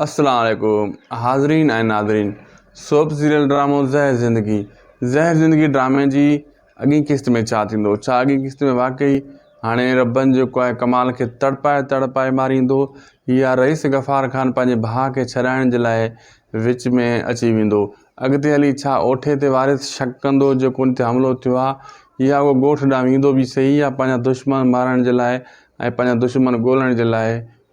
السلام عليڪم حاضرين ۽ ناظرين سوپ سيريل ڊرامو زهر زندگي زهر زندگي ڊرامي جي اڳين قسط ۾ ڇا ٿيندو ڇا اڳين قسط ۾ واقعي هاڻي ربن جيڪو آهي ڪمال کي تڙپائي تڙپائي ماريندو يا رئيس غفار خان پنهنجي ڀاء کي ڇڏائڻ جي لاء وچ ۾ اچي ويندو اڳتي هلي ڇا اوٺي تي وارث شڪ ڪندو جيڪو ان تي حملو ٿيو آهي يا اهو ڳوٺ ڏانهن ويندو به سهي يا پنهنجا دشمن مارڻ جي لاء ۽ پنهنجا دشمن ڳولڻ جي لاء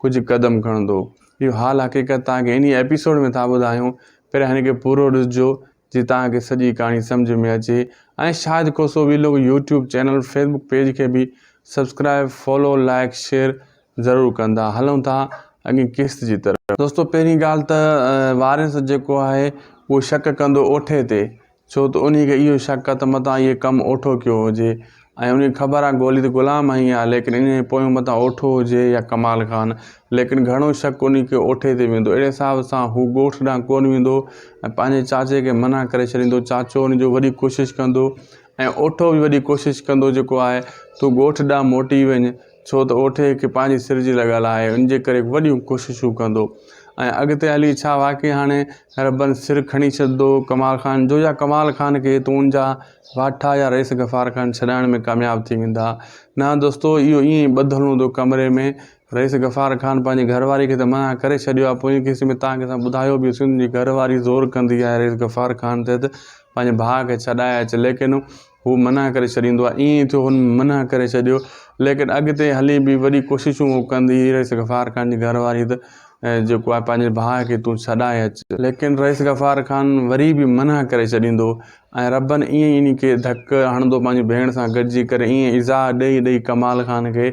ڪجهه قدم کڻندو اهو حال حقيقت توهان کي انهيء ايپيسوڊ ۾ ٿا ٻڌايون پهريان هن کي پورو ڏسجو جي توهان کي سڄي ڪهاڻي سمجهه ۾ اچي ۽ Shahid Khoso vlog YouTube channel Facebook page کي به سبسڪرائب فالو لائيڪ شيئر ضرور ڪندا هلون ٿا اڳين قسط جي طرف دوستو پهرين ڳالهه ته واريس جيڪو آهي اهو شڪ ڪندو اوٺي تي ڇو ته انهيء کي اهو شڪ آ ته متان اهي ڪم اوٺو ڪيو هجي ۽ انهيء کي خبر آ گولي ته غلام هنئي آ ليڪن انهيء پويون متان اوٺو هجي يا ڪمال خان ليڪن گهڻو شڪ انهيء کي اوٺي تي ويندو اهڙي حساب سان هو ڳوٺ ڏانهن ڪونه ويندو ۽ پنهنجي چاچي کي منع ڪري ڇڏيندو چاچو انهيء جو وڏي ڪوشش ڪندو ۽ اوٺو به وڏي ڪوشش ڪندو جيڪو آهي تون ڳوٺ ڏانهن موٽي وڃ ڇو ته اوٺي هڪ پنهنجي سر جي لڳل آهي، ان جي ڪري وڏيون ڪوششون ڪندو ۽ اڳتي هلي ڇا واقعي هاڻي ربن سر کڻي ڇڏندو ڪمال خان جو يا ڪمال خان کي تون جا واٺا يا رئيس غفار خان ڇڏائڻ ۾ ڪامياب ٿي ويندا؟ نه دوستو اهو ائين ئي ٻڌل هوندو ڪمري ۾ رئيس غفار خان پنهنجي گهر واري کي ته منع ڪري ڇڏيو آهي پوئين قسطي ۾ تان کي اسان ٻڌايو به هوسين تنهنجي گهر واري زور ڪندي آهي رئيس غفار خان تي ته پنهنجي ڀاء کي ڇڏائي اچ ليڪن هو منع ڪري ڇڏيندو آهي. ائين ئي ٿيو هن منع ڪري ڇڏيو ليڪن اڳتي هلي به وڏي ڪوششون هو ڪندي هئي رئيس غفار خان جي گهر واري ته جيڪو آهي پنهنجي ڀاء کي تون ڇڏائي اچ. ليڪن رئيس غفار خان وري به منع ڪري ڇڏيندو ۽ ربن ائين ئي انهي کي ڌڪ هڻندو پنهنجي ڀيڻ سان گڏجي ڪري ائين ئي ايذاء ڏئي ڏئي ڪمال خان کي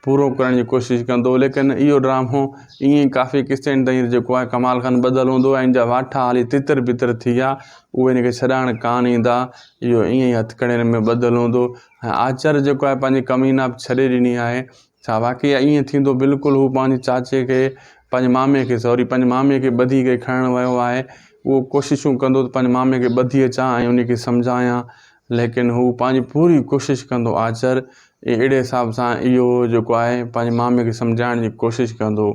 پورو ڪرڻ جي ڪوشش ڪندو ليڪن اهو ڊرامو ائين ئي ڪافي قسطين تائين جيڪو آهي ڪمال خان ٻڌل هوندو آهي ان جا واٺا هالي تتر بتر ٿي ويا اهي ان کي ڇڏائڻ ڪانه ايندا اهو ائين ئي هٿڪڙين ۾ ٻڌل هوندو ۽ آچر جيڪو آهي پنهنجي ڪمينا به ڇڏي ڏني آهي ڇا واقعي ائين ٿيندو بلڪل هو پنهنجي چاچي کي پنهنجي مامي کي سوري پنهنجي مامي کي ٻڌي ڪري کڻڻ ويو آهي اهو ڪوششون ڪندو ته پنهنجي مامي کي ٻڌي اچان ۽ ان کي سمجهايان ليڪن هو پنهنجي پوري ڪوشش ڪندو آچر هي اهڙي حساب سان اهو جيڪو آهي پنهنجي مامي کي سمجهائڻ جي ڪوشش ڪندو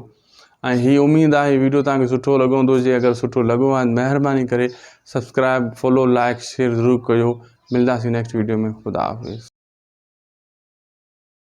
۽ هي اميد آهي هي ويڊيو تهان کي سٺو لڳو هوندو جي اگر سٺو لڳو آهي مهرباني ڪري سبسڪرائب فالو لائڪ شيئر ضرور ڪيو ملداسين نيڪسٽ ويڊيو ۾ خدا حافظ